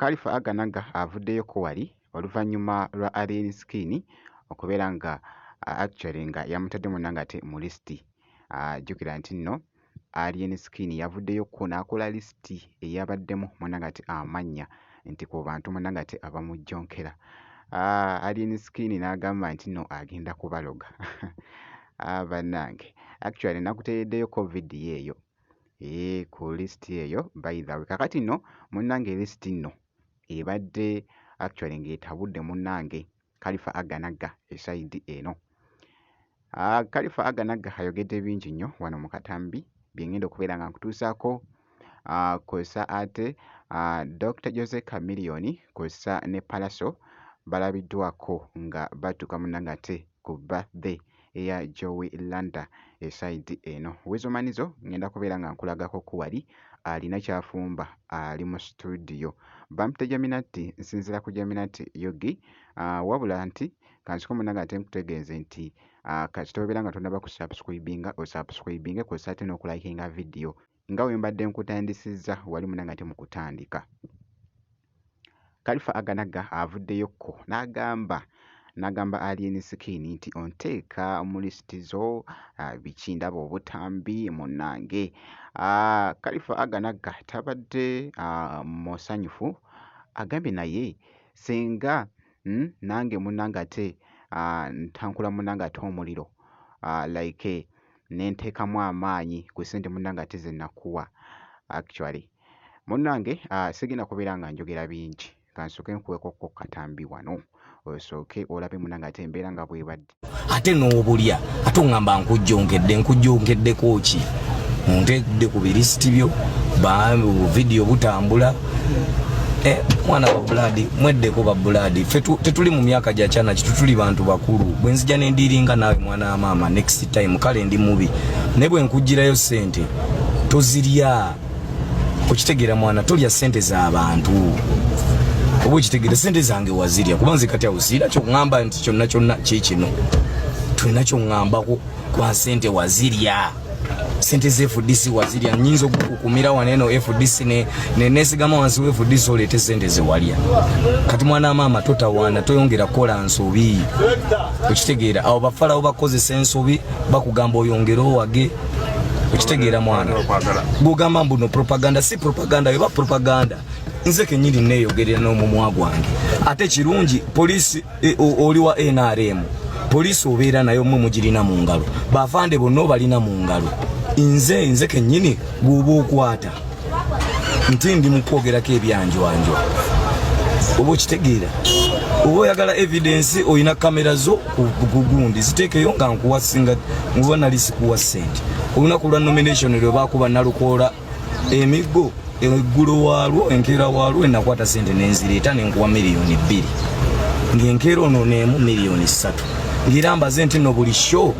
Kalifa Aganaga avuddeyo ko wali oluvannyuma lwa Alien Skin okubeera nga actually nga yamutadde munna ng'ate mu lisiti. Jjukira nti nno Alien Skin yavuddeyo ko n'akola lisiti eyabaddemu munna ng'ate amannya nti ku bantu munna ng'ate abamujjonkera. Alien Skin n'agamba nti nno agenda kubaloga. Bannange actually nakuteereddeyoko vidiyo eyo eeh ku list eyo by the way. Kakati no munange list no ebadde actually nga etabudde munange kalifa aganagga eside eno. Ah, kalifa aganagga ayogedde bingi nnyo wano mu katambi byengenda okubeera nga nkutuusaako ah, kw'ossa ate ah, Dr Jose Chameleone kw'ossa ne Pallaso balabiddwako nga batuuka munange ate ku birthday eya Joey Landa esayidi eno. Wezo Manizo ngenda kubeera nga nkulagako ku wali alina kyafumba ali mu situdiyo. Bampita Jaminati nsinzira ku Jaminati Yogi ah, wabula nti kansiko munange ate nkutegeeze nti ah, kasita obeera nga tonaba ku subscribinga osubscribinge kwosate n'okulayikinga vidiyo nga we mbadde nkutandisizza wali munanga ate mu kutandika kalifa aganaga avuddeyokko n'agamba n'agamba alien skin nti onteeka mu lisiti zo ah, biki ndaba obutambi munnange ah, kalifa aganaga tabadde ah, musanyufu agambye naye singa hmm, nange munnange ate ntankula munnange ate omuliro like ne nteekamu amaanyi ku ssente munnange ate ze nakuwa actually munnange uh, sigenda kubeera nga njogera bingi kansooke nkuweko ko katambi wano osooke olabe munnange ate embeera nga bwebadde ate n'obulya ate oŋŋamba nkujjonkedde nkujjonkeddeko ki munteekudde ku birisiti byo vidiyo butambula eh, mwana wa bulaadi mweddeko ba bulaadi fe tetuli mu myaka gya kyana kitu tuli bantu bakulu bwe nzija ne ndiiringa naawe mwana maama next time kale ndi mubi naye bwe nkugirayo sente tozirya okitegera mwana tolya sente za bantu oba okitegera sente zange wazirya kuba nze kati awo siira kyoŋŋamba nti kyonna kyonna kikino tulina kyoŋŋambako kwa sente wazirya sente ze FDC wazirya nyinza okukukumira waneno FDC ne ne nesigama wansi we FDC olete sente ze walya kati mwana mama totawana toyongera kola nsobi okitegeera abo bafala obakoze sensobi bakugamba oyongera owage okitegeera mwana gugamba mbuno propaganda si propaganda yoba propaganda nze kenyini neyogerera n'omumwa gwange ate kirungi polisi e, oli wa nrm poliisi obeera nayo mwe mugirina mu ngalo bavande bonna obalina mu ngalo nze nze kennyini gwoba okwata nti ndi mukwogerako ebyanjwanjwa oba okitegeera oba oyagala evidensi olina kamera zo kugundi ziteekeyo nga nkuwasinga oba nali sikuwa sente olunaku lwa nomination lwebakuba nalukoola emiggo eggulo waalwo enkeera waalwo enakwata sente nenzireeta nenkuwa miliyoni bbiri ngaenkeera ono neemu miliyoni ssatu ngaera mbaze nti no buli show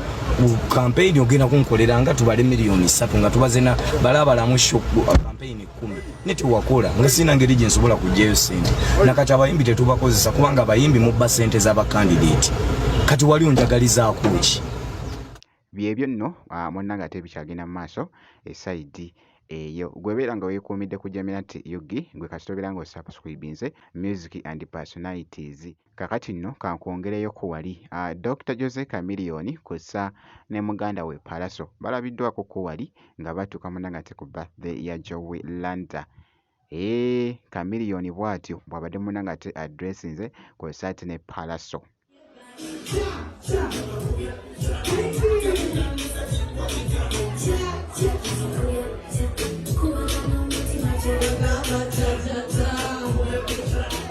kampeyini ogenda kunkolera nga tubale miliyoni ssatu nga tubazena balabalamu show kampeyini kumi ne tewakola nga sirina ngeri gye nsobola kugyayo sente nakati abayimbi tetubakozesa kubanga abayimbi mubba sente z'abakandideti kati wali onjagalizaako ki Byebyo nno munnange ate bikyagenda mu maaso e side eyo. Gwe beera nga wekuumidde ku Jaminat ug gwe kasita obeera nga osubscribinze music and personalities. Kakati nno kankwongereyoko wali. Dokita Jose Chameleon kwossa ne muganda we Pallaso balabiddwako ko wali nga batuuka munnange ate ku birthday ya Jowy Landa. Eeh chameleon bwatyo bwabadde munange ate adressinze ku esaati ne palaso. Thank you.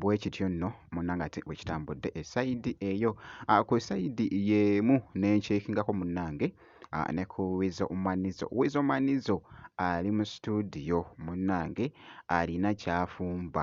bwe kityo nno munnange ate bwe kitambudde esayidi eyo ah, ku esayidi y'emu ne nkyekingako munnange ah, ne ku wizo manizo wizo manizo ali mu situdiyo munnange alina kyafumba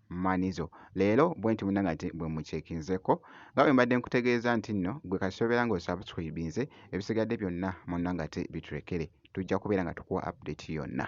Manizo. Leero bwenti munange ate bwe mucekinzeko nga bwe mbadde nkutegeeza nti nno gwe kasobera nga osubscribinze ebisigadde byonna munange ate biturekere tujja kubeera nga tukuwa update yonna.